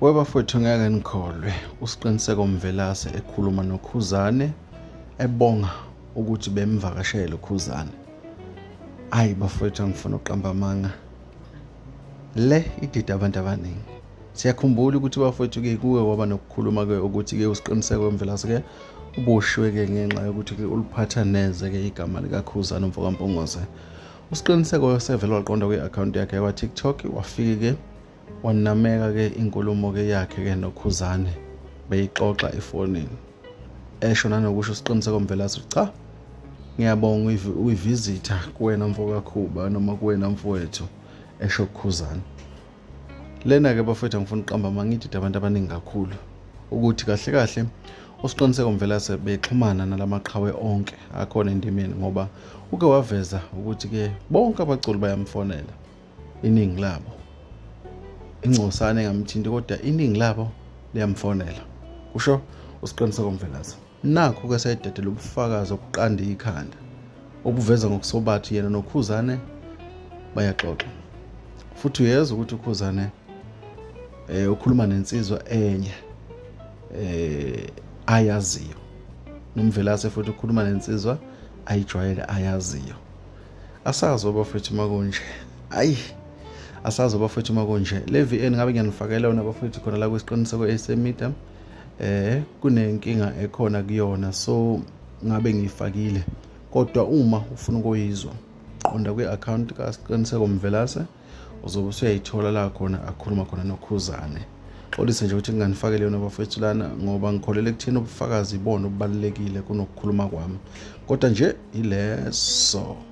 Webafowethu ngeke nikholwe uSiqiniseko Mvelase ekhuluma noKhuzane ebonga ukuthi bemvakashele uKhuzane. Hayi bafowethu angifuna uqamba amanga. Le idida abantu abaningi. Siyakhumbula ukuthi bafowethu ke kuwe waba nokukhuluma ke ukuthi ke uSiqiniseko Mvelase ke uboshwe ke ngenxa yokuthi ke uliphatha neze ke igama likaKhuzane umfokaMpungose. usiqiniseko wesevele waqonda kwi-akhawunti yakhe yakwa-tiktok wafike-ke wanameka-ke inkulumo-ke yakhe-ke nokhuzane beyixoxa efonini esho nanokusho siqiniseko mvelase ukuthi cha ngiyabonga uyivizitha kuwena mfokakhuba noma kuwena mfowethu esho kukhuzane lena ke bafethu angifuna uqamba mangidida abantu abaningi kakhulu ukuthi kahle kahle usiqiniseko mvelase bexhumana nalamaqhawe onke akhona endimeni ngoba uke waveza ukuthi ke bonke abaculi bayamfonela iningi labo ingcosane engamthinti kodwa iningi labo liyamfonela kusho usiqiniseko mvelase Nakho ke sayidedela ubufakazi obuqanda ikhanda obuveza ngokusobathi yena noKhuzane bayaxoxa. Futhi uyezwa ukuthi uKhuzane eh ukhuluma nensizwa enye eh ayaziyo. Nomvelase futhi ukhuluma nensizwa ayijwayele ayaziyo. Asazi obafethu makunje. Ayi asazi obafethu makunje. Le VN ngabe ngiyanifakela yona bafethu khona la kwesiqiniseko esemedia. eh kunenkinga ekhona kuyona so ngabe ngiyifakile kodwa uma ufuna ukuyizwa qonda kwi-akhawunti kasiqiniseko mvelase uzobe usuyayithola la khona akhuluma khona nokhuzane xolise nje ukuthi nginganifakele yona bafethu lana ngoba ngikholele ekutheni ubufakazi ibona obubalulekile kunokukhuluma kwami kodwa nje yileso